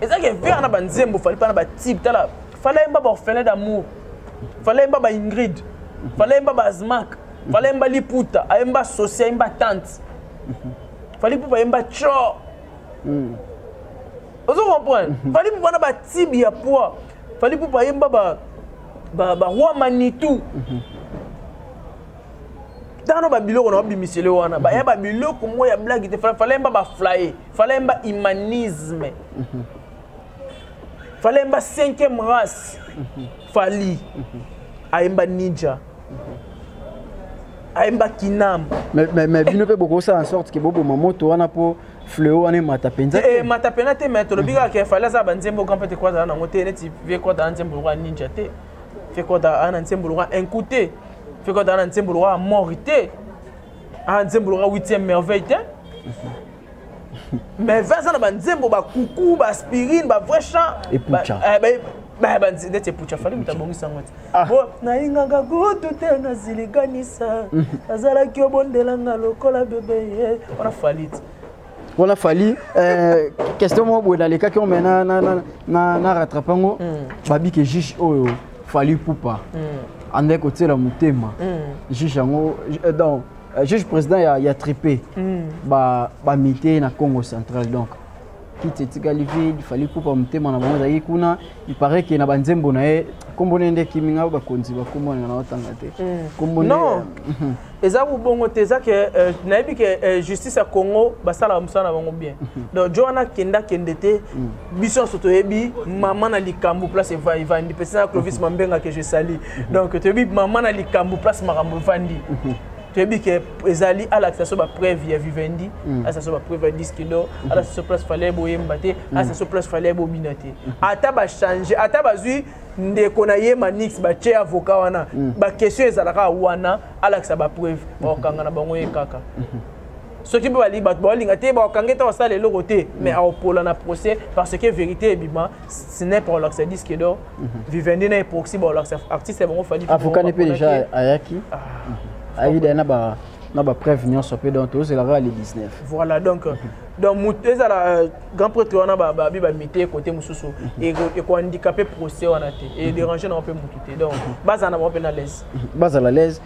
A: ezaki evere na banzembo fali mpa na batype tala fali ayemba baorphelin d'amour fali ayemba baingrid fali ayemba baazmak fali ayemba liputa ayemba sosi ayemba tante fali mpo bayemba tro hmm. ozo comprendre fali mpo wana batibe ya poids fali mpo bayemba ba ba ba roi manitou tano ba biloko na bimisele wana ba ya ba biloko mo ya blague te fallait mba ba flyer fallait mba humanisme fallait mba cinquième race fali ayemba ninja ayemba kinam mais mais mais bino
B: pe boko ça en sorte que bobo moto wana po fleo wana emata mpenza eh, emata mpena te mai
A: tolobi kaka ke fali aza banzembo oka mpe te kua azala nango te neti vie kua azala nzembo lokola ninja te fe kua azala na nzembo lokola incu te fe kua azala na nzembo lokola mori te a nzembo lokola huitième merveille te mais ve aza na banzembo bakuku baaspirine bavrai chant neti epucha fali moto abongisa yango te Ah. Oh, nayingaka kutu te naziliganisa azalaki obondelanga lokola bebe ye wana falite wana fali eh, question moko boye nalekaki ome na rattrape yango hmm. babike juge oyo fali pupa hmm. andaki kotiela motema hmm. juge yango eh, donc eh, juge président ya, ya tripe bamite na congo central donc kiti
B: etikali vide fali kupa motema na bango ezalaki kuna iparait ke na banzembo na ye nkombo ne nde ekimi ngai bakonzi bakombo alinga na batanga te mm. non mhm.
A: eza bongo te eza ke euh, nayebi ke euh, justice ya congo basalaka mosala na bango bien mhm. donc jo wana kenda kende te mm. biso nyonso toyebi mama na likambo place eva evandi mpesi na clovis mhm. mambenga ke je sali donc toyebi mama na likambo place makambo evandi toyebi ke ezali alakisa so bapreuve ya vivendi mm. alakisa so bapreuve ya 10 kilo mm-hmm. alakisa so place fallait boyemba te mm. alakisa so place fallait bobina te mm-hmm. ata bachange ata bazwi ndeko na ye manix batye avocat wana mm. baquestion ezalaka wana alakisa bapreuve bakokanga na bango ye kaka soki mpe balingi bato baolinga te bakokanga ntango asala eloko te mais aopola na procès parce que vérité ebima snep akolakisa diske do vivendi na eproxy bakolakisa artiste ya bango fadi afukani mpe déjà
B: ayaki ayaki dai na ba na bapreuve nyonso mpe donc tozela kaka le 19 voilà donc
A: donc moto ezala euh, grand prêtre wana babi bamite kote mosusu ekohandikape procès wana te edérange nango mpe motu te donc bazala na bango mpe na laise bazala laise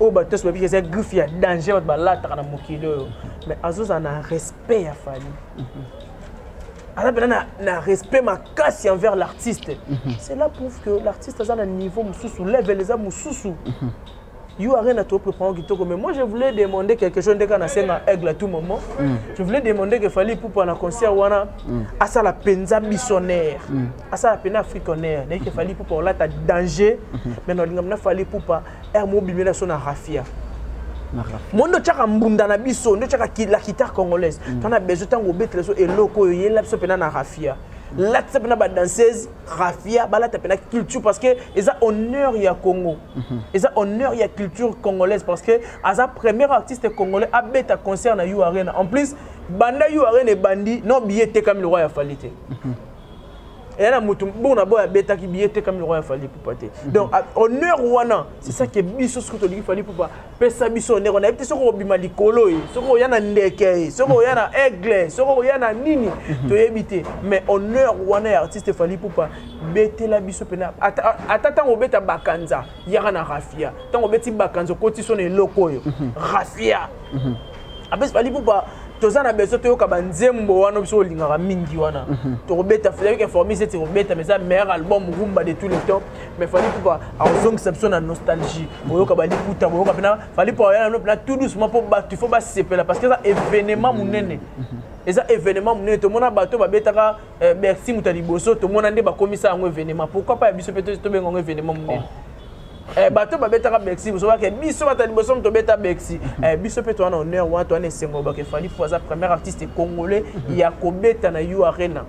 A: oyo bato nyonso bayebi eza griffe ya danger bato balataka na mokili oyo mais azozala na respect ya fali mhm. aza mpena na, na respect makasi envers l'artiste mhm. cela prouve que l'artiste aza na niveau mosusu level eza mosusu mhm. yo arena topreprend kitoko mais moi je voulais demander quelque chose ndeka nasenga aigle à tout moment mm. je voulais demander que fali pupa na concert wana mm. asala mpenza bisonnaire mm. asala mpenza africanaire naye ke fali pupa olata danger mm -hmm. mais nalinga mna fali pupa heure moko bimela biso na rafia mo nde otyaka mbunda na biso nde otyaka la guitare congolaise mm. tana besoin ntango obetela biso eloko oyo yela biso mpena na rafia mm. latisa mpena badanseuse rafia balata mpena culture parce que eza honneur ya congo mhm. eza honneur ya culture congolaise parce que aza premier artiste congolais abeta concert na u arena en plus banda u arena ebandi no billet etekami lokwa ya fali te mhm. eya na moto bongo na boye abetaki biye etekami lokola ya fali pupa te mhm. donc honneur wana c'est ça ke biso soki tolingi fali pupa pesa biso honneur wana yebi te soki okobima likolo ye soki oya na ndeke ye soki oya na aigle soki oya na nini mhm. toyebi te mais honneur wana ya artiste fali pupa betela biso mpena ata ntango obeta bakanza yaka na rafia ntango obeti bakanza okoti so na eloko oyo mhm. rafia apesi fali pupa toza na besoin toyoka banzembo wana biso olingaka mingi wana mhm. tokobeta federic informis ete kobeta mais eza meilleur album rumba de tous les temps mais fali pupa akozongisa biso na nostalgie boyoka baliputa boyoka mpena fali pupa oya nano mpena tout doucement mpo bato il faut basepela parce que eza événement monene mhm. eza événement monene tomona bato babetaka eh, bercy moto ya liboso tomona nde bakomisa yango événement pourquoi pas ya biso mpe tobenga yango événement monene oh. Eh, bato babetaka bexi bozobake biso bato ya liboso moto obeta bexi eh, biso mpe toa na honneur wana toa na esengo lobaka efali mpo aza premier artiste congolais ya kobeta na u arena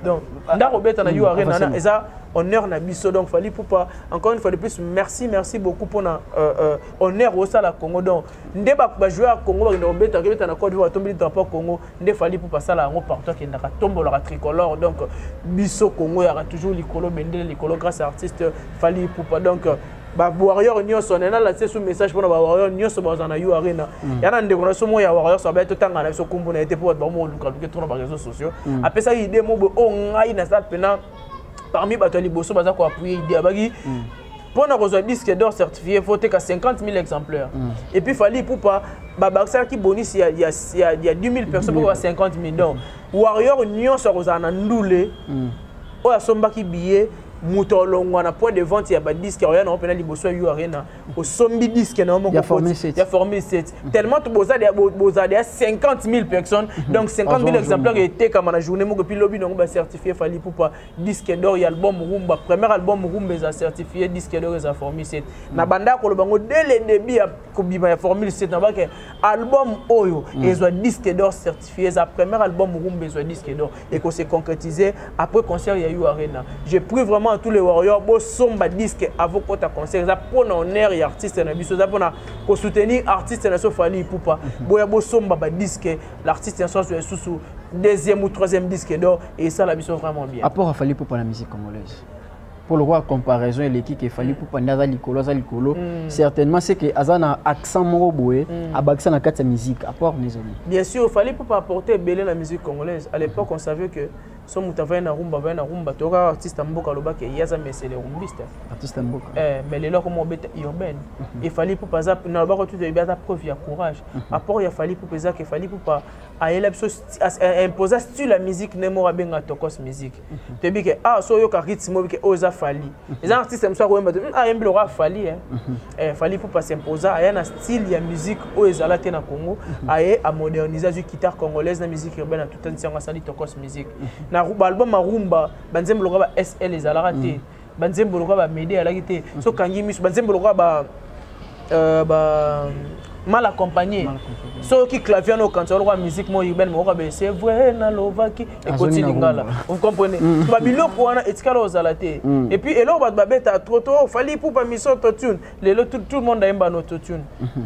A: donc ah, ndako obeta na u mm, arena wana eza honneur na biso donc fali pupa encore une fois de plus merci merci beaucoup mpona euh, euh, honneur osala congo donc nde bajoueur ya congo bakenda kobeta kebeta na cote divoir atombeli drapeau ya congo nde fali pupa asala yango partout akendaka tombolaka tricolore donc biso congo yaka toujours likolo bendele likolo grâce ya artiste fali pupa donc bawarrior nyonso nena latise su message mpona bawarrior nyonso bazala na yo arena mm. yana ndeko na so moko ya warrior so abaya totanga na biso nkombo na ye te mpo bato bamolukaluke tona bareseau sociaux mm. apesaki ide mobo oyo oh, ngai naza mpena parmi bato ya liboso baza koappuye idée abaki mm. mpo na kozwa disque d'or certifié faut teka 50 000 exemplaires mm. et puis fali ipupa babakisalaki bonisi ya, ya, ya, ya 10 000 personnes mpo ba 50 000 donc warrior nyonso akozala na ndule mm. oyo asombaki billet moto alongwa na point de vente ya badisque akoya nango mpena liboso ya u arena osombi disque na yo moko ya formule 7 mm. tellement bozali bozali ya 50 000 personnes mm-hmm. donc 50 000 exemplaires etekama na journée moko epuis lobi nango bacertifie fali pupa disque d'or ya album rumba premier album rumba eza certifie disque d'or eza formule 7 mm. na banda koloba ngo dès le début ya kobima ya formule 7 nabake album oyo mm. ezwa disque d'or certifie eza première album rumba ezwa disque d'or eko se concrétiser après concert ya u arena je prie vraiment à tous les warriors bosomba disque avant kota concert eza mpona honneur ya artiste na biso eza mpona kosoutenir artiste na biso fali ipupa mhm. boya bosomba badisque l'artiste nyonso azwa lisusu deuxième ou troisième disque d'or esala biso vraiment bien apport afali ipupa na musique
B: congolaise mpo lokola comparaison eleki ke fali pupa nde aza likolo aza likolo mm. certainement c'est que aza na accent moko boye mm. abakisa na kati ya musique apport na ezali bien sûr fali pupa
A: apporte ebele na musique congolaise à l'époque on savait que so moto avai na rumba avai na rumba toyoka artiste ya mboka alobaki ye aza mesele rumbiste artiste ya mboka
B: eh, mais lelo akoma obeta
A: urbaine mhm. efali pupa aza nalobaka tutu ebi aza preuve ya courage mhm. apport ya fali pupa ezaka efali pupa ayela biso imposa style ya musique nde moko abenga tokos musique toyebi ke ah so oyoka rythme oyebi ke oyo eza fali eza artiste mosusu akoyemba te hmm, ayembi ah, lokola fali eh. mhm. eh, fali pupa s'imposa aya na style ya musique oyo ezala te na congo mhm. aye amodernise azwi guitare congolaise na musique urbaine atutanisi yango asali tokos musique mhm. na baalbum arumba banzembo lokola ba sl ezalaka te banzembo lokola bamede alaki te mhm. so kangi miso banzembo lokola ba euh, ba mal accompagné soki clavier wana okanisa oloko ya musique moko urbaine moko kabe c'est vrai nalobaki ekoti lingala vous comprenez mm. babiloko wana etikala ozala te mm. et puis eloko bato babeta trop trop ofali pupa miso autotune lelo tout le monde ayemba na autotune mm-hmm.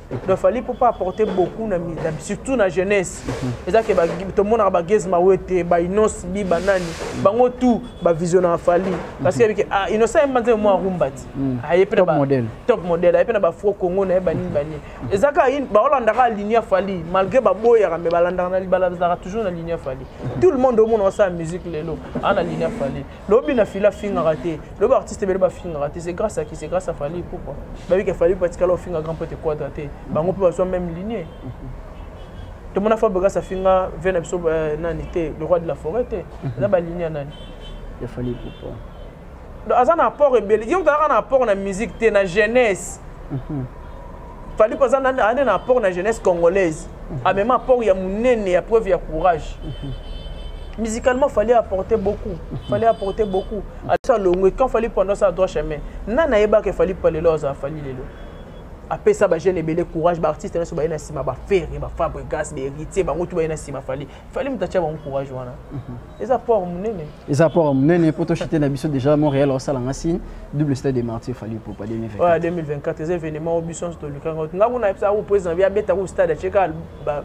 A: donc fali mpo pas apporter beaucoup na, na, surtout na jeunesse mhm. eza ke tomonaka bagese mawete bainos bi banani mhm. bango tout bavisionnaka fali mhm. parce que yebike ah, inosa ye mbanza mwa rumba ti aye mpe top modèle aye mpe na bafro congo na ye banini banini eza kaka baolandaka ligne ya fali malgré baboyaka mais balandaka na libala bazalaka toujours na ligne ya fali tout le monde omona osala musique lelo aa na ligne ya fali lobi na fila afingaka te lobi artiste ebele bafingaka te c'est grâce à qui c'est grâce à fali pourquoi bayebi ke fali patikala ofinga grand pote quadra te bango mpe bazwa même ligne tomona fa begas afinga ve na biso euh, nani te le roi de la forêt te eza baligne ya nani ya fali
B: pourquoi aza
A: na apport ebele yo ozalaka na apport na musique te na jeunesse mhm. fali mpo aza ane na apport na jeunesse congolaise amema apport ya monene ya preuve ya courage musicalement fallait apporter beaucoup fallait apporter beaucoup asa longo quand fallait pendant ça droit chemin na na yeba que fallait pas lelo za fallait lelo apesa ba jeune ebele courage ba artiste na so ba ina sima ba ferre ba fabrigas ba héritier ba ngotu ba ina sima fallait fallait mutacha ba courage wana eza port munene eza port
B: munene po toshite na biso déjà montréal osala nga signe double stade de martyr fali popa 2024 eza
A: événement oyo biso nyonso tolikanga nga kuna yebisa yango président bi abeta ku stade atye kaka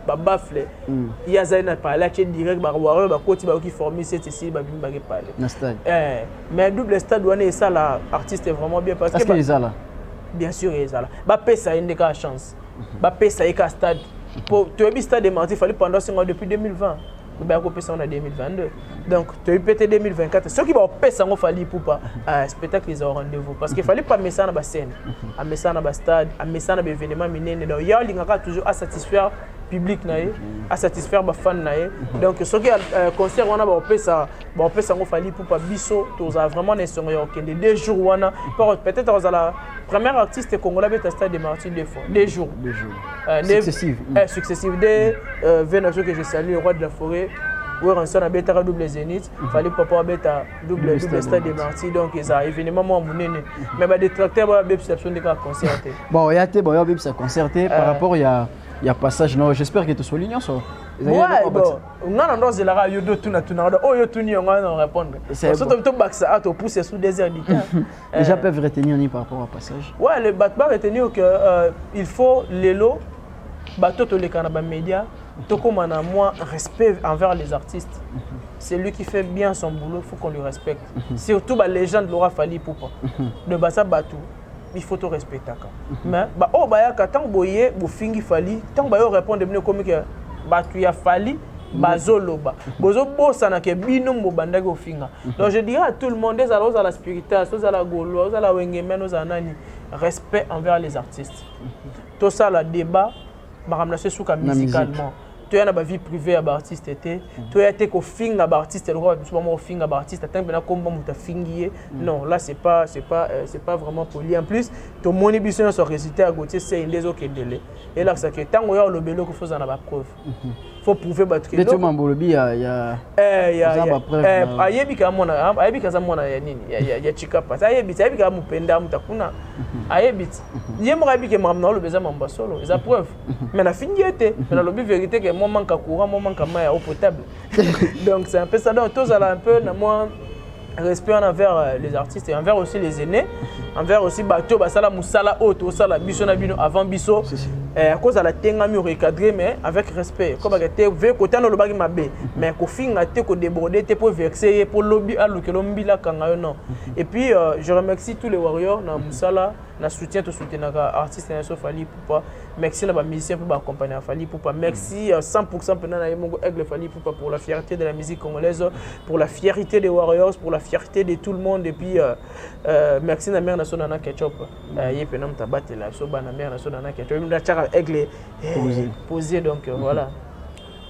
A: babafle hmm. ye azali na pale atye direct bawarrior bakoti bayoki formi sete esili babimi bake pale eh, mais double stade wana esala artiste vraiment bien parce que ezala bien sûr ezala bapesa ye nde kaka chance mhm. bapesa ye kaka stade po toyebi stade de martyr fali pendant sengo depuis 2020 baya kopesa yango na 2022 donc toyebi mpe te 2024 soki baopesa yango fali pupa euh, spectacle eza rendez-vous parce que fali pupa amesana na bascène amesana na bastade amesana na baévénement minene donc ye alingaka toujours asatisfaire public na ye asatisfaire bafane na ye donc soki euh, concert wana baopesa Bon, peut s'en fallait pour pas biso, tous a vraiment des songs au Kende, deux jours, wana, peut-être aux la première artiste congolais peut stade de Martin deux fois, deux jours. Deux jours. Euh, successives. Euh, successives, des euh, Vénation que je salue, le roi de la forêt, weranson abetaka double zénith mhm. fali papa abeta double double stade de marti donc eza événement mwa monene mais badetracteur baya bebisa biso nde kaka concert te bon oya te baoya
B: bebisa concert te par euh. rapport ya ya passage no j'espère que tosoli nyonso
A: nga na ndo ozelaka yo do tuna tuna do oyo tuni yango na répondre so to to bakisa a to pousser sous des heures du temps les gens peuvent
B: retenir ni par rapport au passage ouais le bat pas retenir
A: que euh, il faut lelo bato to lekana ba médias to koma na moi respect envers les artistes c'est lui qui fait bien son boulot faut qu'on lui respecte surtout ba légende Laura Fally Poupa de basa bato il faut to respectaka mhm. mais ba oyo bayaka ntango boye bofingi fali ntango bayo répondre bino ekomi ke bato ya fali mhm. bazoloba mhm. bozobosana ke bino mobandaki ofinga donc je dirais à tout le monde ezala ozala spiritas ozala golois ozala wengemen ozala nani respect envers les artistes tosala débat makambo na so esuka musicalement toya na bavie privée ya baartiste te mhm. toya te kofinga baartiste lokola biso bango kofinga baartiste atangi mpena komba moto afingi ye mhm. non là c'est pas c'est pas euh, c'est pas vraiment poli en plus tomoni biso nyonso résultat ya gautier sei nde ezokendele elakisa ke ntango oya olobeli okofi ozala na bapreuve mhm. faut prouver bato kende to mambo lobi ya
B: ya eh ya ya
A: eh ayebi ka mwana ayebi ka za mwana ya nini ya ya, ya chikapa sa ayebi sa ayebi ka mupenda mutakuna mhm. ayebi mhm. ye moko ayebi ke mambo na lobi za mambo solo eza mhm. preuve mais na fingi ete mais na lobi vérité que moi manque courant moi manque main au potable donc c'est un peu ça donc tous à la un peu na moi respect wana envers euh, les artistes et envers aussi les aînés envers aussi bato basala mosala oyo tosala biso na bino avant biso eh, akozala tengami orecadre mais avec respect kobaka te ve kotana olobaki mabe mais kofinga te kodeborde te mpo vexe ye mpo lobi alukelo mbila akanga yo non et puis euh, je remercie tous les warriors na mosala mm -hmm. na soutien tosoutenaka artiste na biso fali pupa merci na bamusicien mpe baaccompagne ya fali pupa merci 100 mm. mpena na ye moko aigle fali pupa pour la fierté de la musique congolaise pour la fierté des warriors pour la fierté de tout le monde et puis euh, euh, merci na mare na so nana ketchup mm. euh, ye mpena moto abatela biso bana mare na so nana ketchup natiaka aigle eh, posé donc euh, mm-hmm. voilà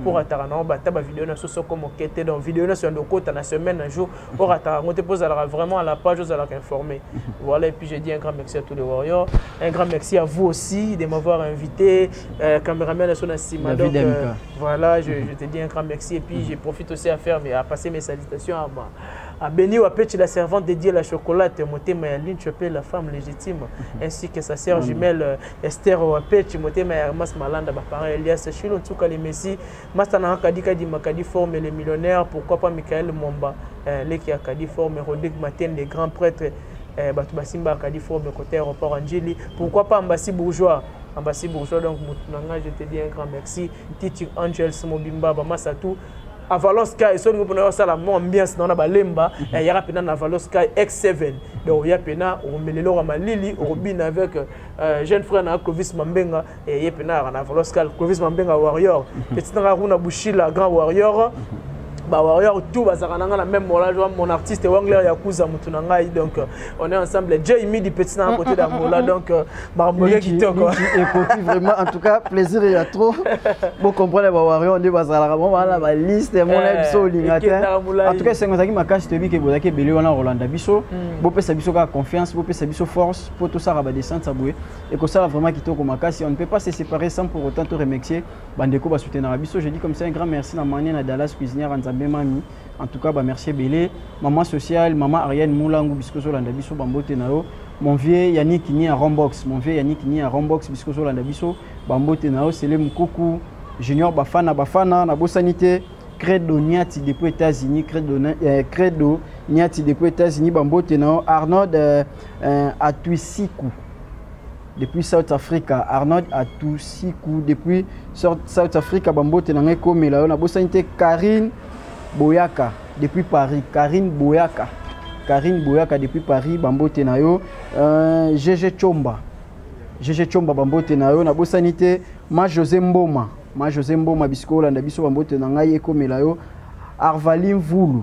A: mpo mm. rataka nango bata bavideo na so soko moke te donc video nyonso yando okota na semaine na jour orataka yango te mpo ozalaka vraiment à la page ozalaka informé voilà et puis je dis un grand merci à tous les warriors un grand merci à vous aussi de m'avoir invité euh, cameraman na so na nsima donc euh, voilà je, je te dis un grand merci et puis mm. je profite aussi à faire mais à passer mes salutations à ma à Béni Wapechi, la servante dédiée à la chocolate, Motema Yaline Chopé, la femme légitime, ainsi que sa sœur mm. jumelle euh, Esther Wapechi, Motema ya Hermas Malanda, ba parents Elias Shilo, Nsuka le Messi, Masta na Kadi Kadi Makadi Forme le millionnaire, pourquoi pas Michael Mwamba, euh, Leki ya Kadi Forme, Rodrigue Maten, le grand prêtre, euh, bato basimba Kadi Forme côté aéroport Anjili, pourquoi pas Ambassi Bourgeois, Ambassi Bourgeois, donc motu na ngai, je te dis un grand merci, Titi Angels Mobimba, Bamasatou, avalos sky soki olingi mpona osala mo ambiance nao na balemba mhm. eh, yaka mpena na avalos sky x7 donc oya mpena okomelela oka malili okobina avec euh, Euh, jeune frère na Clovis Mambenga et eh, Yepena na Voloscal Clovis Mambenga warrior mhm. petit na Runa Bushila grand warrior mhm. ba warrior tout bazaka nanga na même mola joa mon artiste Wangler Yakuza mutu na ngai donc euh, on est ensemble Jay Midi petit na côté d'Angola donc euh, marmoye kitoko et côté vraiment en
B: tout cas plaisir ya trop bon comprendre ba warrior nde bazalaka bon bana ba liste mon eh, biso lingata en tout cas c'est ngozaki makashi toyebi ke bozaki ebele wana Rolanda biso mm. bopesa biso ka confiance bopesa biso force mpo tosala badescente ya boye ekosala vraiment kitoko makasi on ne peut pas se séparer sans pour autant to remercier bandeko basoutenaka biso je dis comme ça un grand merci na mania na dallas cuisinière nzambe mami en tout cas bamercie ebele maman sociale maman ariane mulangu bisika ozolanda biso bambote na yo mon vieux yannick ni ya rombox mon vieux yannick ni ya rombox bisika ozolanda biso bambote na yo sele mokuku junior bafana bafana nabosani te credo niati depuis états-unis credo, euh, credo niati depuis états-unis bambote na yo arnold euh, Euh, Atuisiku depuis South Africa Arnold Atuisiku depuis South Africa bambote na ngai komela yo nabosani te Karine Boyaka depuis Paris Karine Boyaka Karine Boyaka depuis Paris bambote na yo euh, Gege Chomba Gege Chomba bambote na yo nabosani te ma José Mboma ma José Mboma bisika olanda biso bambote na ngai ekomela yo Arvalin Vulu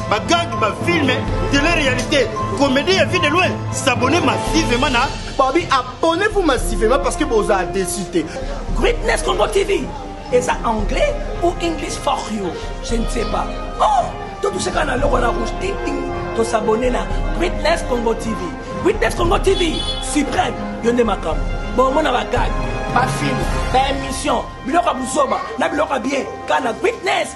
F: bagag ba filme tele réalité comédie ya vie de loin s'abonne massivement na babi abonnez-vous
D: massivement parce que boza déçu te greatness congo
C: tv eza anglais ou english for you je ne sais pas oh totuseka na loko na rouge ting ting tosabone na greatness congo tv greatness congo tv suprême yo nde makambo bomona bagag bafilme baémission biloko ya buzoba na biloko ya bien kana greatness